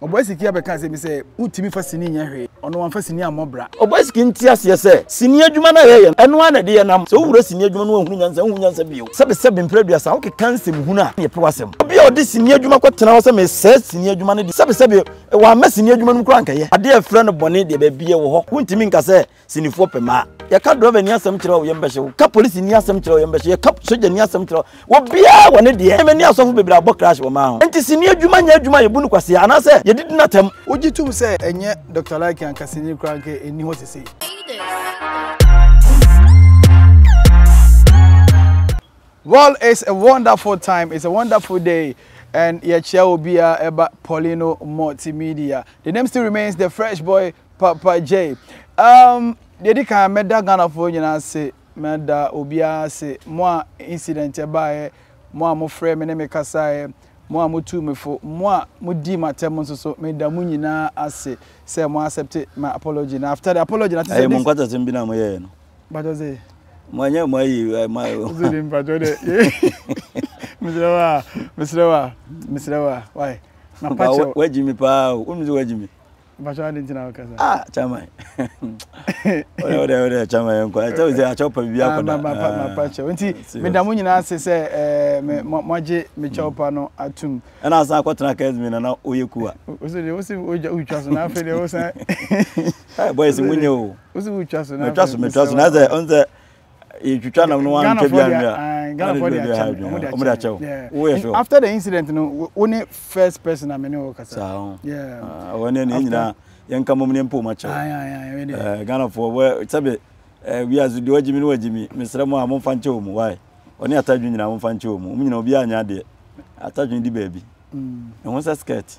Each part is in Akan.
Ɔbɔasiki abɛka asɛm bi sɛ, Wontumi mfa sini nyɛ hwee. Ɔno wamfa sini ammɔ bra. Ɔbɔasiki nte aseɛ sɛ, sini adwuma no a yɛyɛ no, ɛno ara na ɛde yɛn nam. Sɛ wowura sini adwuma mu a wonhunu nyansa, wonhu nyansa bio. Sɛbesɛbe mprɛ aduasa, wokeka nsɛmhunu a, na yɛpɛ w'asɛm. Obi a ɔde sini adwuma kɔtena hɔ sɛ mesɛe sini adwuma no deɛ, sɛbesɛbe wammɛ sini adwuma no mu koraa a, anka ɛyɛ. Adeɛ a yɛfrɛ no bɔne deɛ, baabiara ɛwɔ hɔ. Wontumi nka sɛ Sinifoɔ pɛ maa. Yɛka drɔva ni asɛm kyerɛ wo, yɛn bɛhyɛ wo. Ka polisi ni asɛm kyerɛ wo, yɛn bɛhyɛ. Yɛka sogya ni asɛm kyerɛ wo. Wɔ biara wɔ ne deɛ. Ɛmɛ ni asɔfo bebree abɔ crash wɔ maa ho. Nti sini adwuma nyɛ adwuma a yɛbu no kwasea anaasɛ yɛdidi no atɛm. Wogye tom sɛ ɛnyɛ Doctor Like anka sini koraa anka ɛnni hɔ sesei. Well it's a wonderful time, it's a wonderful day and yɛkyea obiara ɛba Paulino Multimedia. The name still remains the fresh boy Papa Jay. Um, deɛ di kan mɛda Ghanafoɔ nyinaa ase, mɛda obiara ase. Mo a incident ɛbaeɛ, mo a mofrɛ me ne me kasaeɛ, mo a motuu me fo, mo a modii m'atɛm nso so, meda mo nyinaa ase sɛ mo accept my apology. Na after the apology, na te sɛ Ɛyɛ mo this. nkwatasɛm bi na moyɛɛ no. Mpakyɛ sɛ, Mo anyɛ mo ayi eh, ma wosɛ de mpakyɛ dɛ, mesrɛ wo a, mesrɛ wo a, mesrɛ wo a, why? Mapa Papa, kyɛw. wa- wagyi me paa o. Wonim sɛ wagyi me. Mpacho adi nti na waka sa. Ah, chairman. Ode ode ode chairman yɛn kɔ. Ɛkyɛ sɛ akyɛ pa bi akɔda. Ma pa ma pa kyɛ. Nti me da mo nyinaa ase sɛ eh me mo agye me kyɛw pa no atum. Ɛna asan akɔtena Kesmi na na oyɛ kuwa. Osi de osi oja utwa so na afɛ de osan. Eh boys munye o. Osi utwa so na. Metwa so metwa so na sɛ ɔn sɛ yɛtwitwa nam no wantwa bi anwea ghanafoɔ de akyɛ me ɔmo de akyɛ wo woyɛ so after the incident no wo ne first person a me ne wɔ kasa saa ho wɔn ne ne nyinaa yɛn ka mom ne mpɔ mu akyɛ wo ghanafoɔ wɔ sɛbe wiase deɛ wagyimi ne wagyimi mesrɛ mo a momfa nkyɛ wɔ mu wae ɔne atadwe nyinaa momfa nkyɛ wɔ mu ɔmo nyinaa obiara nyɛ adeɛ atadwe di baabi ɛho mm. sɛ skirt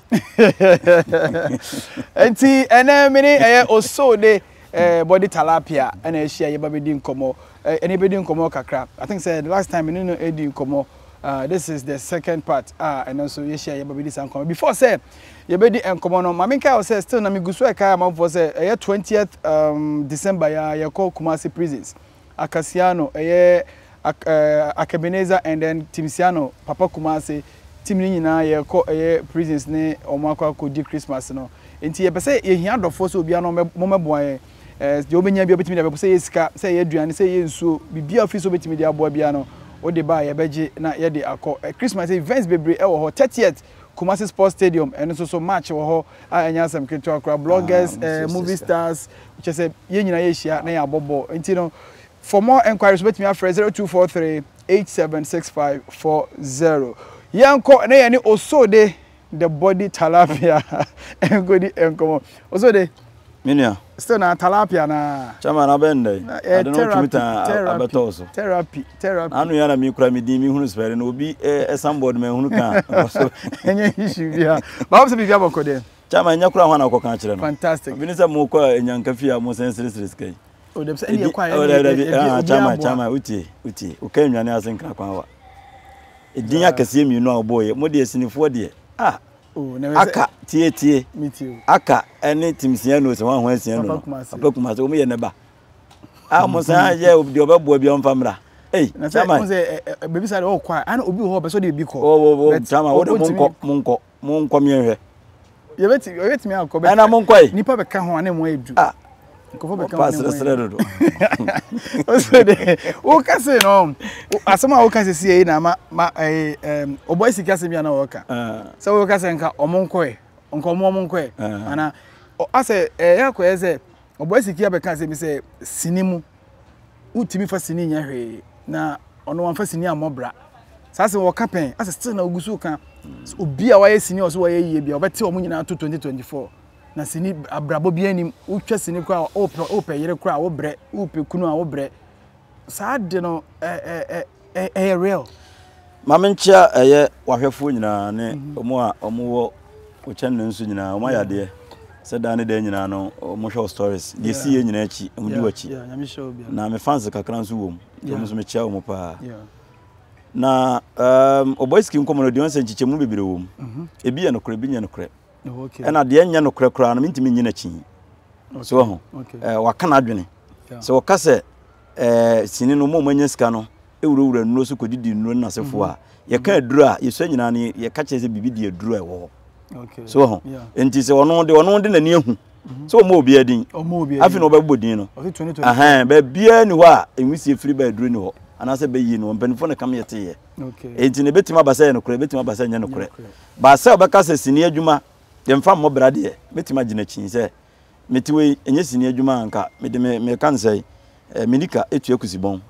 nti ɛnɛ me ne ɛyɛ osoo de eh, body talapia ɛna ahyia yɛba bɛdi nkɔmmɔ eh, ɛne bɛdi nkɔmmɔ kakra i think sɛ the last time me ne no ɛdi nkɔmmɔ Uh, this is the second part ah ɛno nso yɛhyia yɛba bɛdi saa nkɔmmɔ before sɛ yɛbɛdi nkɔmmɔ no ma menka wo sɛ still na megu so ɛkae amanfoɔ sɛ ɛyɛ 20th um, december yɛ yɛkɔ kumase prisons Akasiano ɛyɛ ak ɛɛ Akebenezer and then Tim Siano papa Kumase team no nyinaa yɛkɔ ɛyɛ prisons ne wɔn akɔ akɔ di Christmas no nti yɛpɛ sɛ yɛhia adɔfoɔ sɛ obiara no ɔmɛ ɔmɛboa yɛn ɛɛ deɛ ɔbɛnya biara ɔbɛtumi de abɛbɔ sɛ ɛyɛ sika sɛ ɛyɛ aduane sɛ ɛyɛ nsuo biribiara ɔfili sɛ ɔbɛtumi de aboa biara no wode ba a yɛbɛgye na yɛde akɔ ɛɛ Christmas events bebree ɛwɔ hɔ thirtieth Kumasi Sports Stadium, ɛno nso so match wɔ hɔ a ɛnyɛ asɛm ketewa koraa. Bloggers, ah, eh, movie stars, kyɛ sɛ yɛn nyinaa yɛhyia na yɛabɔ bɔɔl. Nti no, for more enquiries wobɛtumi afrɛ 0243 876540. Yɛnkɔ na yɛne Osode the body talapia nkɔdi nkɔmmɔ. Osode, Me nua. Still na talapia naa. Chairman abɛn dɛn? Na ɛyɛ Ade no wotumi tɛn a, therapy, abɛtɔ wo so. therapy, Na therapy. ano yi ara na me kura me din mehunu spelling no obi eh, signboard manhunu ka a, nkɔ so. Ɛnyɛ issue biara. But wopɛ sɛ biribi abɔ kɔ deɛ. Chairman ɛnyɛ koraa hwan na wokɔka akyerɛ no? Fantastic. Obi ne sɛ mokɔ a Enyanka fie a mosan seresere sika yi. Oh dabi sɛ ɛnde Ɛdi, ɛkɔ a oh ɛnde dabi dabi, ɛbi ah, obiara chairman, boa. chairman, wotie, wotie, woka nnwane ase nkra kwan wa. Ɛdin Dza. akɛseɛ mmienu a wobɔeɛ, mo deɛ sinifoɔ deɛ, ah! Aka, tie tie. Aka ɛne tim sia no sɛ wɔn ho asia no. Papa kumase wɔn yɛ ne ba. A wɔn san yɛ obi deɛ ɔbɛboa bi ɔnfa mmra. Ei, chama. Baabi sa de ɔkɔ a, ana obi wɔ hɔ ɔbɛ sɛ ɔde ebi kɔ. Wɔ wɔ wɔ chama wɔde mo nkɔ mo nkɔ mo nkɔ miɛnhwɛ. Yɛbɛti yɛbɛtumi akɔ bɛ. Ɛna mo nkɔ yi. Nipa bɛ ka ho ana mo ayɛ du. Ah. nkɔfo bɛka wɔn ne srɛsrɛ dodo ɔsɛ de woka se no asɛm a woka sisi ɛyi na ma ma ɛyi ɛm ɔbɔ esi kasa bi a na wɔka ah. sɛ woka sɛ nka ɔmo nkɔɛ nka ɔmo ɔmo nkɔɛ ah. ana asɛ ɛyɛ eh, akɔyɛ sɛ ɔbɔ esi kia bɛka sɛ bi sɛ sini mu wotumi fa sini nyɛ hwee na ɔno wɔn fa sini amɔ bra saa sɛ wɔka pɛn asɛ still na ogu so ka obi a wayɛ sini ɔso wɔyɛ yie bi a ɔbɛte ɔmo nyinaa to twenty twenty four. Na sini abrabɔ bi anim wotwa sini koraa a wopɛ wopɛ yere koraa a wobrɛ wopɛ kunu a wobrɛ saa de no ɛɛ ɛɛ ɛyɛ real. Maame nkyia ɛyɛ wahwɛfoɔ nyinaa ne wɔn mhm. a wɔn wɔ wɔkyɛn ne nso nyinaa wɔn ayɛ adeɛ sɛ daa ne daa nyinaa no wɔn hwɛ wɔ stories deɛ si yɛ nyinaa akyi wɔn di wɔ akyi na me fans kakra nso wɔ mu wɔn nso mekyia wɔn paa na ɔbɔ um, siki nkɔmɔ no deɛ wɔn sɛ nkyekyɛmu bebree wɔ mu mhm. ebi yɛ nokorɛ ebi nyɛ nokorɛ. ɛna deɛ nyɛ nokorɛ koraa no mentumi nyi n'akyi so wɔ ho waka n'adwene sɛ wɔka sɛ sini no mo manya sika no ɛwurawura nnuro so kɔdidi nnuro no nasefoɔ a mhm. yɛka aduro a yɛsua nyinaa no yɛka kyerɛ sɛ biribi di aduro a ɛwɔ hɔ so ho nti sɛ ɔno de ɔno de n'ani ahu sɛ ɔmɔ obiara din afei na ɔbɛbɔ din no baabiara ni hɔ a ɛnwisie firi bɛɛ duro ni hɔ anaasɛ bɛyi no mpanyinfoɔ na kam yɛ teyɛ nti no ɛbɛtumi aba sɛ yɛ nokorɛ ɛbɛtumi aba sɛ nyɛ nokorɛ baa sɛ ɔbɛka sɛ sini adwuma yɛmfa mmɔ bra deɛ mɛtumi agyina kyi sɛ mete wei ɛnyɛ sini adwuma anka mede meka no sɛ eh, menika ɛtua kusibɔn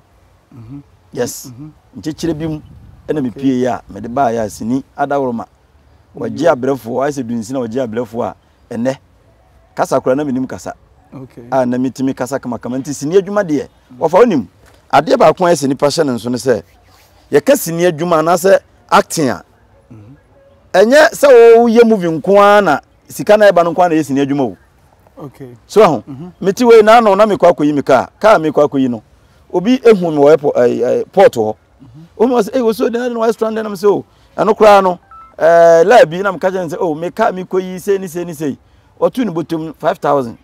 mhm. yes mhm. nkyekyerɛ bi mu ɛna mepie yɛ a mede baayɛ a sini adaworoma wɔgye abrɛfoɔ ayɛ sɛ dunsini a wɔgye abrɛfoɔ a ɛnɛ kasa koraa na menim kasa a na metumi kasa kamakama nti sini adwuma deɛ wɔfa wonim adeɛ baako a ɛsɛ nipa hyɛ ne nso no sɛ yɛka sini adwuma anaasɛ acting a mhm. ɛnyɛ sɛ woyɛ movie nko ara na sika na ɛba no nko ara na ɛyɛ sini adwuma o so aho mhm. mete wei na ano na mekɔ akɔyi me kaa kaa mekɔ akɔyi no obi ehu me wɔ port hɔ mhm. wɔn mu sɛ ɛyɛ osuo dan na wɔayɛ strand dan na mo sɛ o oh, ɛno koraa no ɛɛ eh, laa bi na meka kyerɛ no sɛ o oh, meka mekɔyi sei ne sei ne sei ɔto ne bɔtom no five thousand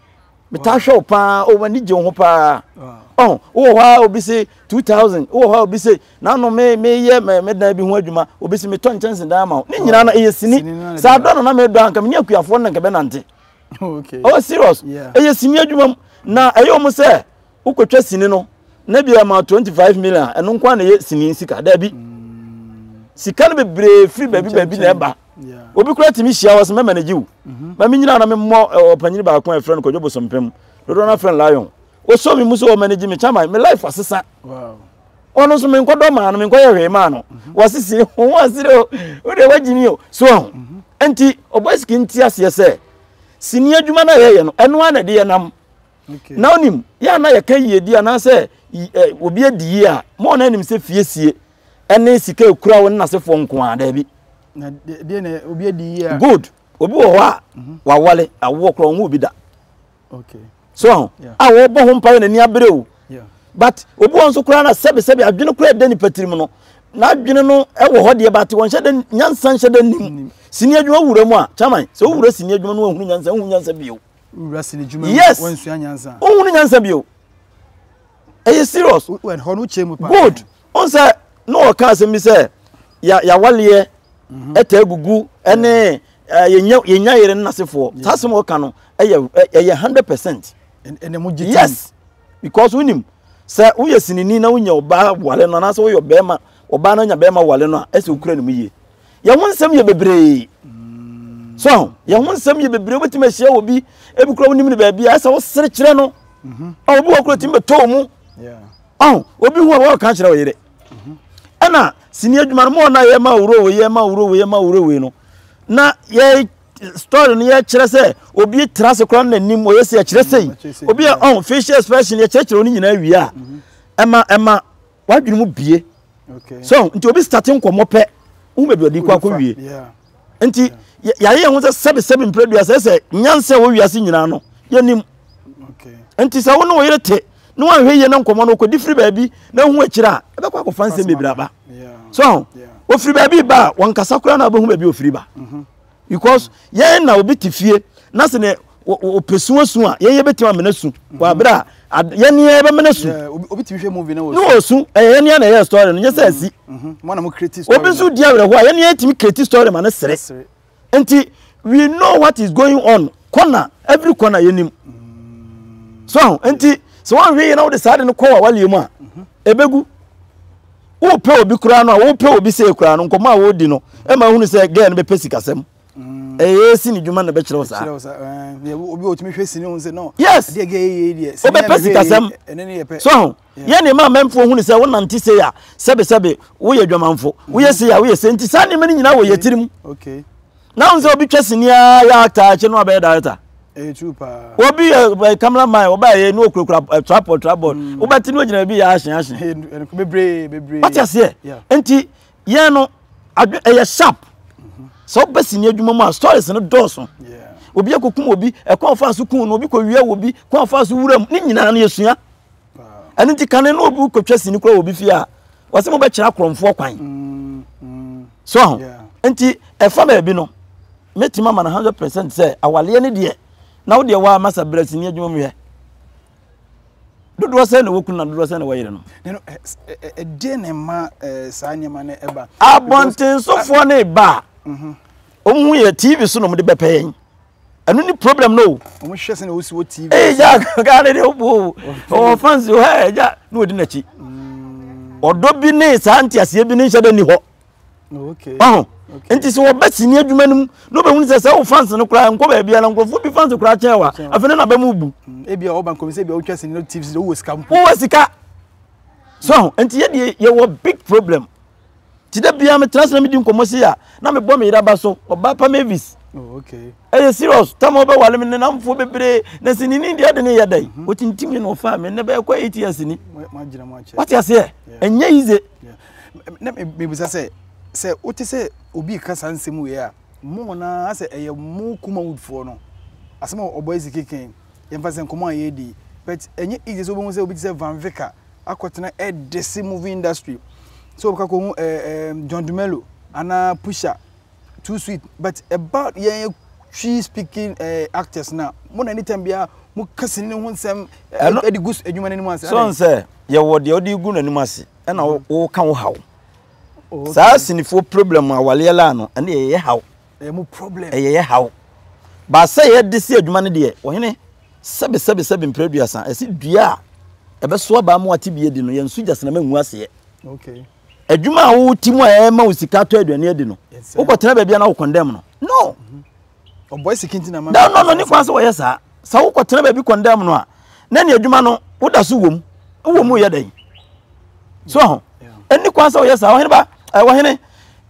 metaa hwɛ wo paa o oh, m'ani gye wo ho paa ɔho oh, wowɔ hɔ a obi se two thousand wowɔ hɔ a obi se nano me meyɛ medan bi ho adwuma obi se metɔ nkyɛnse dan ama wo ne nyinaa no ɛyɛ sini saa dɔ no na medɔ anka menya akuafoɔ no na nka bɛnante oh serious ɛyɛ sini adwuma mu na ɛyɛ ɔmo sɛ wokɔtwa sini no na bi ama 25 million a ɛno nko a na ɛyɛ sini sika daabi sika no bebree firi baabi baabi na ɛba obi kora tumi hyia hɔ sɛ mɛma no gye wo mhm. ma me nyina na memmɔ ɔpanyini baako a ɛfrɛ no kɔdwo bosompem dodoɔ no afrɛ no lion ɔsɔ me mu sɛ ɔma no gye me kyama me life asesa ɔno nso menkɔdɔ maa no menkɔyɛ hwee maa no mhm. wasisi ho asere o wode wagye mi o so ho mhm. nti ɔbɔ sika nti aseɛ sɛ sini adwuma no a yɛyɛ no ɛno a na ɛde yɛ nam na onim yɛ a na yɛka yiedi anaasɛ obi adi yie a ma ɔna anim sɛ fiesie ɛne sika ekura wo ne n'asefoɔ nko ara daabi good obi wɔ hɔ a mhm. wawale awoɔ korɔ ɔnwo obi da so aho a wɔbɔ ho mpaeɛ n'ani abere o but obi wɔ nso koraa na sɛbesɛbe adwene koraa ɛda nipa tirim no n'adwene no wɔ hɔ deɛ bate wɔnhyɛ dɛ nyansa nhyɛ dɛ nim sini adwuma wura mu a kyaman sɛ wowura sini adwuma no ahunu nyansa ahunu nyansa bio wura sini dwuma mu yes wansua nyansa ohun nyansa bi o ɛyɛ serious wɛn hɔ no kyɛn mu paa good on sɛ na ɔka asɛm bi sɛ ya yawaleɛ mhm. ɛtɛ agugu ɛne yɛnya yɛnya yɛrɛ no nasefoɔ saa asɛm ɔka no ɛyɛ ɛyɛ hundred percent ɛnna mo gye yes because wonim sɛ woyɛ sinini na wonya ɔbaa wale no anaasɛ woyɛ ɔbɛrima ɔbaa no anya bɛrima wale no a ɛsɛ okura ne mu yie yɛn ho nsɛm yɛ bebree so aho yɛn ho nsɛm yɛ bebree wobɛtumi ahyia wɔ bi ebi kura wonim no baabi a ɛsɛ wosere kyerɛ no mhm. a obi wɔ kura tumi bɛtɔɔ mu aho obi ho a wɔka kyerɛ wo yere mhm. ɛna sini adwuma no ma ɔna yɛ ma wuro wei yɛ ma wuro wei yɛ ma wuro wei no na yɛ story no yɛkyerɛ sɛ obi tra ase koraa na nim ɔyɛ sɛ yɛkyerɛ sɛ yi obi a ɔn facial expression yɛkyerɛkyerɛ wɔn nyinaa wie a mhm. ɛma ɛma wadwene mu bie so nti obi starte nkɔmmɔ pɛ wo baabi ɔde kɔ akɔ wie nti yɛayɛ yɛn ho sɛ sɛbesɛbe mprɛdua sɛ sɛ nyansa wɔ wiase nyinaa no yɛnim nti sɛ wo ne wo yere te ne wanhwɛ yie na nkɔmmɔ no wokɔdi firi baabi na hu akyiri a ɛbɛkɔ akɔfa nsɛm bebree aba so ɔfiri baabi ba a wɔnkasa koraa na wobɛhu baabi ɔfiri ba mhm. Because yɛn na obi te fie na sɛ ne ɔpɛ su asu a yɛn yɛbɛtumi amena su wɔ mhm. abere a yɛn ni yɛn bɛmena su. obi tumi hwɛ movie na wɔ su. ne wɔ su ɛyɛ yɛn ni yɛn na ɛyɛ story no nyɛ sɛ ɛsi. Mhm. Mhm. obi nso di awerɛhoɔ a yɛn ni yɛn tumi create story ma ne sere nti we know what is going on kɔna every kɔna yɛn nim mm. so nti sɛ wɔn ahwɛ yɛn na wɔde saa de no kɔ wɔ awale mu a ebegu. wopɛ obi koraa no a wopɛ obi sɛ koraa no nkɔmɔ a wodi no ɛma ehunu sɛ gɛɛ no bɛpɛ sikasɛm mm. ɛyɛ si ne dwuma na bɛkyerɛw saa eh, obi otumi hwɛ sini ho sɛ no yes deɛ gɛɛ yɛ deɛ sini wobɛpɛ sikasɛm ɛne ne yɛ pɛ so ho yɛ ne ma mɛmfo hunu sɛ wonante sei a sɛbesɛbe woyɛ dwamanfo woyɛ sei a woyɛ sei nti saa nneɛma no nyinaa wɔ yɛ tirim okay na ɔn sɛ obi twɛ sini aa yɛ actor akyɛ no abɛyɛ director ɛyɛ true paa obi yɛ camera man ɔba yɛ no okurakura eh, tripod tripod mm. wobɛte no agyina baabi yɛ ahye ahye bebree bebree wate aseɛ nti yɛn no ɛyɛ sharp mhm. sɛ wobɛ sini adwuma mu a stories no dɔɔso obi akɔkum obi ɛkwan fa so kun no obi kɔwia wɔ bi kwan fa so wura mu ne nyinaa no yɛsua ɛno nti kane no obi kɔtwa sini kora wɔ obi fie a wɔsɛ mobɛkyerɛ akorɔmfoɔ kwan mm, mm. so ho nti ɛfa baabi no mɛtumi ama no 100 percent sɛ awaleɛ no deɛ na wodeɛ waa masa berɛ sini adwuma mu yɛ dodoɔ sɛ na wɔkunu na dodoɔ sɛ na wɔyere no ɛdeɛ ne ma saa nneɛma no ɛba abɔntensofoɔ ne ba a mhm. ɔmu yɛ tv so na ɔmde bɛpɛ yɛn ɛno ne problem no o. wɔn hwɛ sɛ na wosi wɔ tv. ee ja gaa ne de o bo ɔwɔ fans o hɛ ja ne odi n'akyi ɔdɔ bi ne saa nteaseɛ bi ne nhyɛ dɛ ni hɔ ɔho nti sɛ wɔbɛ sini adwuma no mu na wobɛhunu sɛ sɛ wo fans no koraa nkɔ baabi ana nkurɔfoɔ bi fans koraa kyɛn wa afei ne naba mu bu mm, ebia ɔba nkɔm sɛ ebia wotwa sini no tv sɛ wowɔ sika mpo wowɔ sika so ho nti yɛdeɛ yɛwɔ big problem nti da biara metena ase na medi nkɔmmɔ sei a na mebɔ me yere aba so ɔbaa pa mavis oh, ɛyɛ serious tam a wobɛwale me ne namfoɔ bebree na sɛ nini deɛ de ne yɛ dɛn mhm. wɔtintim me na ɔfaa me nnɛ bɛɛkɔ eight years ni wate aseɛ ɛnyɛ yize na mebisa sɛ sɛ wote sɛ obi ka saa nsɛm wei a mo nyinaa sɛ ɛyɛ mo kuma woodfoɔ no asɛm a ɔbɔ asi keken yɛmfa sɛ nkɔmmɔ a yɛdi but ɛnyɛ easy sɛ wobɛhu sɛ obi te sɛ vanvika akɔtena ɛdese movie industry sɛ wɔbɛka kɔhu ɛɛ eh, ɛɛ eh, John Dumelo anaa Pusha too sweet but ɛba yɛn twi speaking ɛɛ eh, actors na mo na anytime biara mo ka sini ne ho nsɛm ɛde gu adwuma n'anim ase. sɔn sɛ yɛwɔ deɛ ɔde gu n'anim ase ɛna wɔka mm-hmm. wo haw saa sinifoɔ problem awaleɛ laa no ɛne yɛyɛ haw. ɛyɛ yɛ haw. Baasɛ yɛ de si adwuma no deɛ, Ohene, sɛbe, sɛbe, sɛbe mprɛ aduasa, ɛse dua a ɛbɛso aba ama wate bi adi no, yɛn so gyasena ma ngu aseɛ. Adwuma a wo ti mu a ɛma wo sika atɔ aduane adi no, wokɔ tena baabi a na wo kɔndɛm no. No! Ɔbɔ esi kinti na ma. No, no, no, ne kwan sɛ wɔyɛ saa. Sɛ wokɔ tena baabi kɔndɛm no a, na ne adwuma no, woda so wom. Wowɔ mu yɛ dɛn? So ho? Ɛni kwan sɛ wɔyɛ saa. Ɔhene ba, ɛwɔ hene.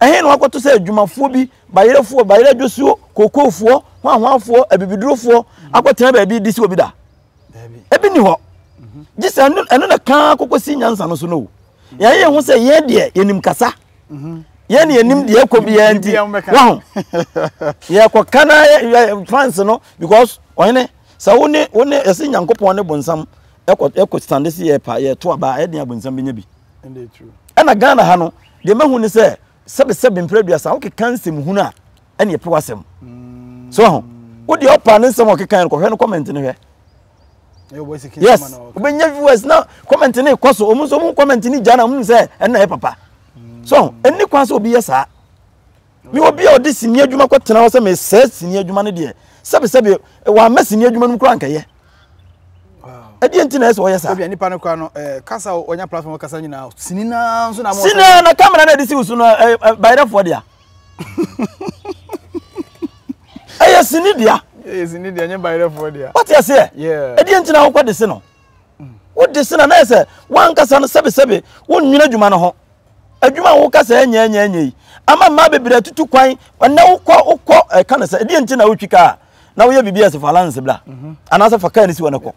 Ɛhe na wɔakɔto sɛ adwumafoɔ bi, bayerefoɔ, bayerɛ dwosuo, kookoofoɔ, hwanhwanfoɔ, abibidurofoɔ, akɔtena baabi redi si obi da? Ebi nni hɔ. Gye sɛ ɛno ɛno na kan kɔkɔsi nyansa no so no o. Yɛn yɛn ho sɛ yɛn deɛ yɛnim kasa. Yɛn na yɛnim deɛ ɛkɔ biara nti. Waho. Yɛkɔka na yɛ- yɛ- France no because ɔhene sɛ wo ne wo ne ɛsɛ Nyankopɔn ne bonsam ɛkɔ ɛkɔ stande se yɛpa yɛto aba a ɛdeɛn a bonsam bɛnya bi. ɛna ghana ha no deɛ mahu ne sɛ sɛbesɛbe mprɛ aduasa wokeka nsɛm hunu a ɛne ɛpew asɛm mm. so ho wodeɛ ɔpa ne nsɛm a ɔkeka no kɔhwɛ no comment no hwɛ yes wobɛnya viewers na comment ne kɔ so ɔmu nso mu comment ne gya na ɔmu sɛ ɛna yɛ papa mm. so ɛni kwan sɛ obi yɛ saa Me obi a ɔde sini adwuma kɔtena hɔ sɛ mesɛe sini adwuma no deɛ sɛbesɛbe wammɛ sini adwuma no mu koraa nkɛyɛ ɛdeɛ nti na ɛsɛ ɔyɛ saa ebia nipa no koraa no eh, kasa ɔnya platform kasa nyinaa sini naa nso na mo sini na kamera na ɛde si wusu no eh, eh, bayerɛfoɔ dea ɛyɛ sini dea ɛyɛ sini dea nyɛ bayerɛfoɔ dea wɔte aseɛ ɛdeɛ nti na wokɔ de se no wode se na na ɛsɛ wankasa no sɛbesɛbe wonnwene adwuma no ho adwuma a woka sɛ ɛnyɛ ɛnyɛ ɛnyɛ yi ama mmaa bebree atutu kwan ɛnna wokɔ wokɔ ɛka eh, no sɛ ɛdeɛ nti na wotwi kaa na woyɛ biribi a ɛsɛ fa lanse bla mhm. anaasɛ fa kaa no si wɔ no kɔ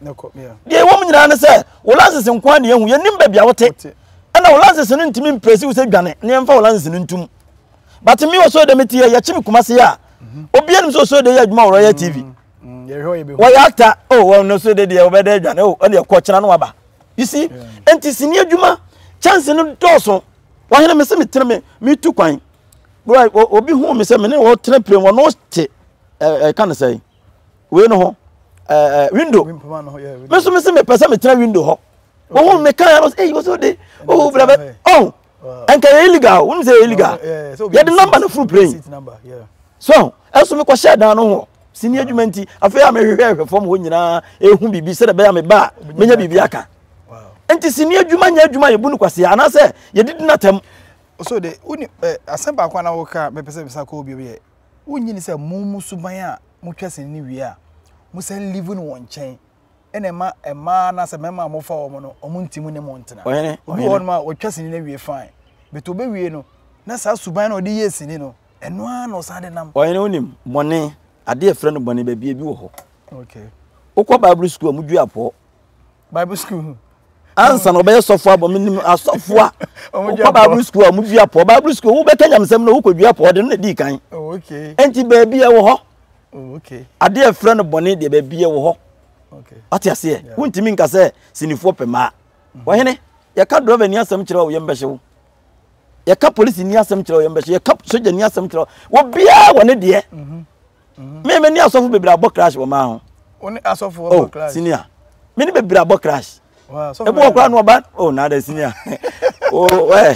deɛ ɛwɔ mu nyinaa ne sɛ wo lanses nko a ne ɛhu yɛnim baabi a wote ɛna wo lanses no ntumi mprɛsi wo sɛ dwane ne ɛmfa wo lanses no ntum but me ɔsɔre dɛ mete yɛ yɛkye me kuma se yɛ a mhm. obia nim sɛ ɔsɔre dɛ yɛ adwuma wɔ royal tv mhm. wɔyɛ actor o wɔn no so de deɛ wɔbɛdɛ adwane o ɛna ɛkɔ kyena no aba you see nti sini adwuma chance no dɔɔso wahene me sɛ metene me metu kwan bro obi hu me sɛ me ne wɔtena pire wɔn no te ɛka no sɛ wei no ho ɛɛ window me nso me sɛ mepɛ sɛ metena window hɔ wɔn ho me kan yɛn no sɛ eyi wɔsɛ ɔde ɔwɔ brabɛ ɔn. ɛnka yɛ illegal wonim sɛ yɛ illegal yɛde namba no foro plane so ɛso mekɔhyɛ dan no ho sini adwuma nti afei a mehwehwɛ hwɛ fam hɔ nyinaa ɛhu biribi sɛdɛ bɛyɛ a meba a menya biribi aka nti sini adwuma nyɛ adwuma yɛbu no kwasee anaasɛ yɛdidi no atam so de woni eh, asɛm baako a na woka mepɛ sɛ mesa kɔɔ biom yɛ wonyini sɛ mo mu suban a motwa sini no wie a mosɛ live no wɔ nkyɛn na ɛma mmaa anaasɛ mmarima a wɔfa wɔn no wɔn nti mu ne mo ntena obi wɔ hɔnom a ɔtwa sini no awie fine bɛtɛ ɔbɛwie no na saa suban na ɔde yɛ sini no ɛno ara na ɔsan de nam ɔhene wonim bɔne adeɛ ɛfrɛ no bɔne baabi ebi wɔ hɔ okay wokɔ bible school a mudwe apɔ bible school ansa na ɔbɛyɛ sɔfo abɔ menim asɔfo a wokɔ bible school a modua pɔ bible school wobɛka nyamesɛm no wokɔdua pɔ ɔde no na dii kan oh, enti baabi ɛwɔ hɔ oh, adeɛ ɛfrɛ no bɔne deɛ baabi ɛwɔ hɔ ate aseɛ wontumi nka sɛ sinifoɔ pɛ maa mhm. ɔhene yɛka drɔva ni asɛm kyerɛ wo yɛmbɛhye wo yɛka polisi ni asɛm kyerɛ wo yɛmbɛhye yɛka sogya ni asɛm kyerɛ wo obiaa wɔ ne deɛ mhm. Me me ne asɔfo bebree abɔ crash wɔ maa ho. Wo ne asɔfo abɔ oh, crash. Oh senior. Me ne bebree abɔ crash. Wow, so Ebu okra no ba oh na da senior. Oh eh.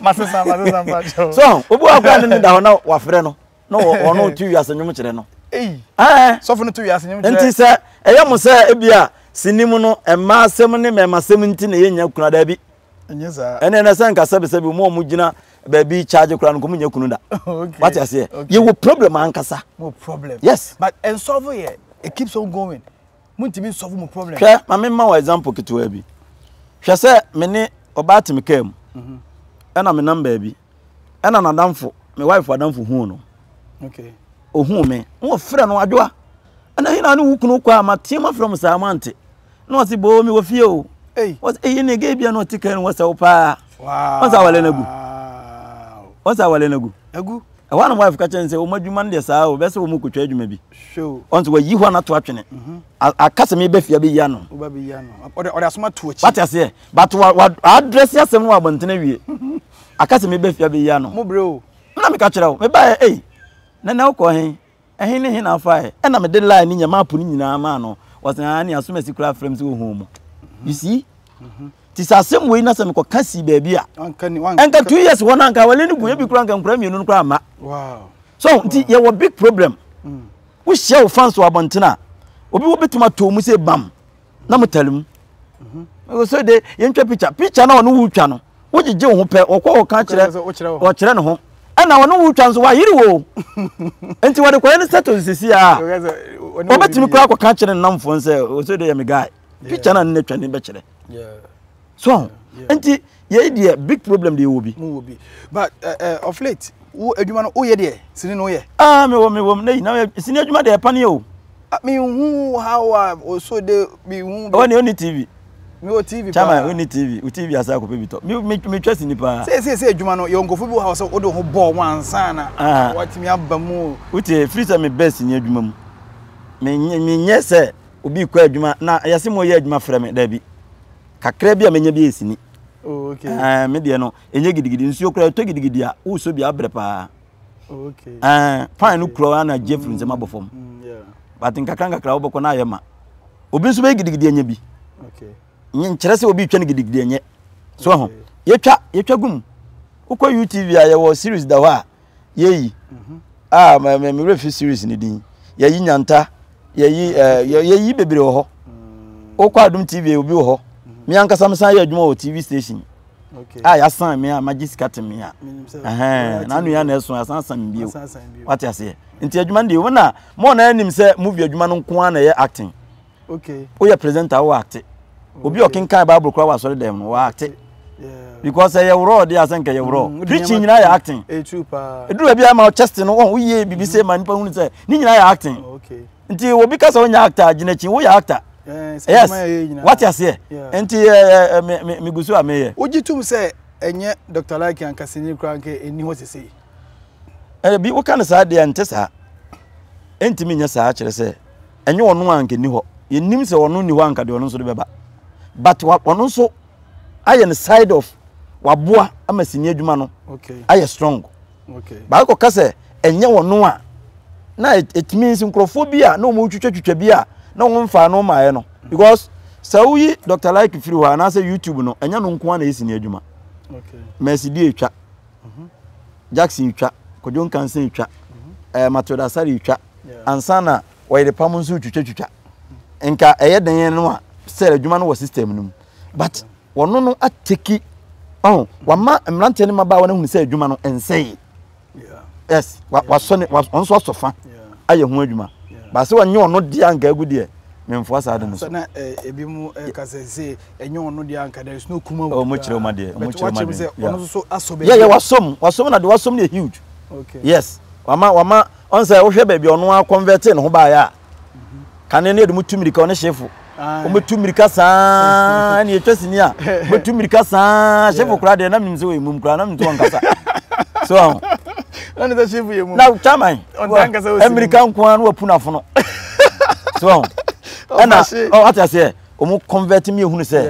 Masesa masesa ba jo. So, obu okra no da ho na wa frɛ no. Na wo no tu wiase nwom kyerɛ no. Eh. Eh. Sɔfo no tu wiase nwom kyerɛ. Nti sɛ ɛyɛ mo sɛ ebi a sinim no mmaa asɛm ne mmarima asɛm nti na yɛnya kuna da bi. Ɛnyɛ saa. Ɛnna ɛnna sɛ nka sɛbisɛbi wɔn a wɔgyina baabi charge koraa no nka wɔnyɛ kunu da. Okay. Wate aseɛ. Okay. Yɛwɔ problem ankasa. Mo problem. Yes. But nsɔfo yɛ it keeps on going. Mo ntumi nsɔfo mo problem. Hwɛ maame mma wɔ example ketewa bi. Hwɛ sɛ me ne ɔbaa te me kaa mu. Mhm. Ɛna me nam baabi. Ɛna n'adamfo me wife adamfo hu no. Okay. Ohun me. Wɔn fira no adwoa. Ɛna hin na ne wo kunu kɔ a ma teɛ ma fira mo saa mo ante. Na ɔse boo mewɔ fie o ɔse eii ne gay bia na ɔte kan no wɔsɛ wo paa ɔsɛ awale no agu ɔsɛ awale no agu agu ɛhɔ a na wife ka kyerɛ no sɛ wɔn adwuma no deɛ saa o bɛsɛ wɔn kɔtwa adwuma bi ɔnso wayi hɔ a nato atwene mhm. aka sɛ meba fie abɛyi ano ɔde asoma to akyi wate aseɛ but wadrɛse asɛm no wɔ abɔntene wie mhm. aka sɛ meba fie abɛyi ano na meka kyerɛ wo mebaɛ ei nana wokɔ he Ɛhe ne he na afae? Ɛna mede line no nyɛ map no nyinaa maa no. Wɔsɛ aa ne asomasi koraa frɛ m sɛ wɔhu mu. You see? Mm-hmm. Ti sɛ asɛm wei na sɛ mekɔka sii baabi a. Ɛnka two years hɔ no anka awale no gu ebi koraa nka nkora mmienu no koraa mma. So nti yɛwɔ big problem. Mm. Wohyia wo fans wɔ abɔnten a obi wɔbɛtumi atɔ mu sɛ bam. na motare mu sɛ de yɛntwa picture picture na ɔne wo twa no wogyegye wo ho pɛ ɔkɔ ɔka kyerɛ ɔkyerɛ ne ho ɛna ɔne wo twa nso wayere wo nti wɔde kɔyɛ no settle sisi a ɔbɛtumi koraa kɔka kyerɛ ne namfoɔ sɛ ɔsɛ de yɛ me guy picture na ne twa ne bɛkyerɛ so ahu nti yɛyi deɛ big problem deɛ wɔ bi mu wɔ bi but uh, uh, of late wo adwuma no woyɛ deɛ sini no woyɛ ah me wɔ me wɔ na yi na sini adwuma deɛ ɛpa ne o ah, me hu how a oso de me hu ɔwɔ ne ɔni tv me wɔ tv paa chama ɔni tv o tv asa akɔpɛ bi tɔ me me me twɛ sini paa sɛ sɛ sɛ adwuma no yɛ nkɔfo bi wɔ ha sɛ wode ho bɔɔ ho ansa na ah. watumi aba mu wotie firi sɛ me bɛs nyɛ adwuma mu menyɛ sɛ obi rekɔ adwuma na ɛyɛ sɛ moyɛ adwuma frɛ me daabi kakra bi a menya bi yɛ sini oh, okay. uh, me deɛ no ɛnyɛ gidigidi nsuo koraa ɛtɔ gidigidi a wosɔ bi abrɛ paa oh, okay. uh, pan no kura ana gye firi nsɛm abɔ fam mm, yeah. but nkakra nkakra wobɛkɔ no ayɛ ma obi nso bɛyɛ gidigidi anya bi okay. nkyerɛ sɛ obi twa no gidigidi anyɛ so okay. ho yɛtwa yɛtwa gum wokɔ utv a yɛwɔ series da hɔ a yɛyi ah me me me fi series ne din yɛyi nyanta yɛyi ɛɛ eh, yɛyi bebree wɔ hɔ wokɔ adum tv obi wɔ hɔ mi ankasa mi san yɛ adwuma wɔ tv station a ah, yɛasan me a magye sika te me a na nua na ɛso asan san me bio wate aseɛ nti adwuma no deɛ wɔn na mo na anim sɛ movie adwuma no nko ara na ɛyɛ acting. okay woyɛ presenter wo acte obi a ɔkenkan bible koraa wɔ asɔre dɛm no wɔ acte because ɛyɛ worɔ de asɛ nka ɛyɛ worɔ mm, preaching nyinaa yɛ acting ɛduru baabi ama chest no wɔn woyɛ biribi sɛ ma nipa hunu sɛ ne nyinaa yɛ acting nti obi ka sɛ wonyɛ actor gyina akyi woyɛ actor yes wate aseɛ nti megu so a meyɛ wogye tom sɛ ɛnyɛ dr like ankasani koraa nka ɛni hɔ sesei ɛyɛ bi woka no saa deɛ ɛnte saa ɛntumi nyɛ saa kyerɛ sɛ ɛnyɛ ɔno a nka ni hɔ yɛnim sɛ ɔno ni hɔ a nka deɛ ɔno nso de bɛba but ɔno nso ayɛ no side of waboa ama sini adwuma no ayɛ strong baako ka sɛ ɛnyɛ ɔno a na ɛtumi nsi nkurɔfoɔ bi a na wɔn twitwatwitwa bi a na wɔn mfa no maayɛ no because sɛ woyi dr like firi hɔ anaasɛ youtube no ɛnyɛ no nko a na ɛyɛ sini adwuma mɛsi di atwa Jackson retwa, Kojo Nkansa retwa, ɛɛ Matilda Asare retwa, ansa na wɔyere pam nso retwitwatwitwa. Nka ɛyɛ dan yɛn no a sɛ adwuma no wɔ system no mu. But wɔn no ateki ɔn wama mmeranteɛ ne mmabaa wɔn ahunu sɛ adwuma no nsɛe. Yes, wasɔ ne wɔn nso asɔ fa ayɛ ho adwuma. Baasi wɔn nyɛ wɔn deɛ anka egu deɛ. memfoa saa ade no so. Sɛ na ebi mu ɛka sɛ sɛ ɛnyɛ ɔno deɛ anka there is no kuma wɔ. Ɔmo kyerɛ ɔmo adeɛ, ɔmo kyerɛ ɔmo adeɛ. Sɛ ɔno nso asɔ baabi. Yɛ yɛ wasom, wasom na de wasom no yɛ huge. Okay. Yes, wama wama ɔn sɛ wohwɛ baabi ɔno a convert ne ho baayɛ a. Mhm. Kane ne yɛde mo tu mirika ɔne hyefo. Ɔmo tu mirika saa ɛna yɛtwa sini a. Ɔmo tu mirika saa hyefo kura deɛ na menim sɛ ɔyɛ mum kura na menim sɛ ɔnkasa. So. Na ne sɛ hyefo yɛ mum. Na chairman. mmirika nko ara na wapunu afono so ɛna ɔte aseɛ wɔn convert mi ehunu sɛ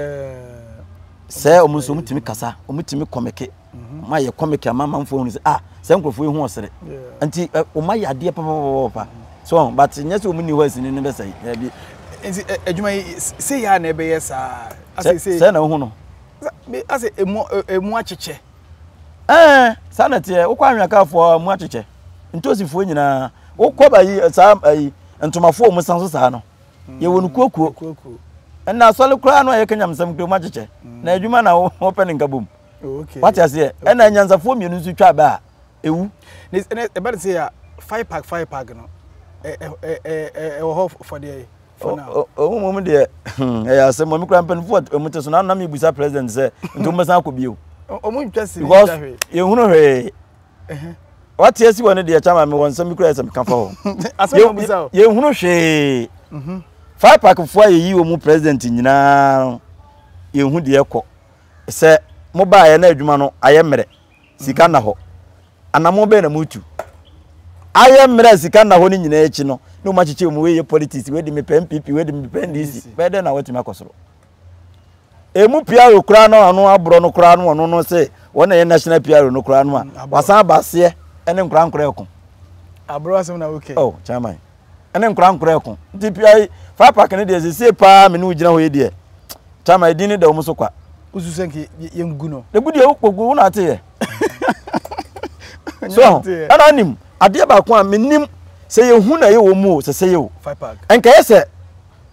sɛ wɔn nso wɔn tumi kasa wɔn tumi kɔmɛke wɔn ayɛ kɔmɛke ama amanfo ehunu sɛ ah sɛ nkurɔfoɔ yi ho ɔsere nti wɔn ayɛ adeɛ papapapa so but nyɛ sɛ wɔn ni hɔ ɛsini ne bɛsɛ ɛbi. nti adwuma yi sɛ yɛ a na ɛbɛyɛ saa. sɛ na ohun no. ase emu emu akyekyɛ. ɛɛ saa na teɛ wokɔ anwia kaafoɔ emu akyekyɛ. Ntosifoɔ nyinaa wo kɔba yi eh, saa eh, yi ntomafoɔ mu san so saa no mm, yɛwɔ no kuokuo ɛna asɔre koraa no a yɛka nyamesɛm kura mu akyekyɛ mm. na adwuma na wɔpɛ ne nka bom wate aseɛ ɛna nyansafoɔ mmienu nso twa bɛ a ɛwu ɛbɛ ne sɛ yɛ five pack five pack no ɛwɔ hɔ fɔdeɛ yi ɔmo mom deɛ ɛyɛ asɛm ɔmo kura mpanimfoɔ ɔmo te so na anam ebusa president sɛ nti ɔmo bɛsan akɔ bio ɔmo ntwa si because yɛhunu hwee wate asi wɔ no deɛ kyama me wɔ nsɛm bi kura sɛ meka fa hɔ yɛhunu hwee mhm. five pack foɔ a yɛyi wɔ mu president nyinaa no yɛhu deɛ kɔ sɛ mobaeɛ na adwuma no ayɛ mmerɛ sika nna hɔ anamo bɛɛ na motu ayɛ mmerɛ sika nna hɔ no nyinaa akyi no na ɔmakyekye mu wei yɛ politics wei de mepɛ mpp wei de mepɛ ndc bɛɛ dɛ na watumi akɔ soro emu piaro koraa no ano aborɔ no koraa no ɔno no sɛ wɔn na ɛyɛ national piaro no koraa no a mm, wasan aba aseɛ ɛne nkora nkora ɛko aborɔ asɛm na wokɛ oh chairman ɛne nkora nkora ɛko nti pia yi fire park no deɛ sesie paa me ne wo gyina hɔ yi deɛ chairman ɛdin ne da wɔn so kwa wosu sɛ nke yɛngu no ɛgu deɛ wokpɔgu wo na ateyɛ so ɛna anim adeɛ baako a menim sɛ yɛhu na ɛyɛ wɔ mu o sɛ sɛ yɛ o ɛnkɛyɛ sɛ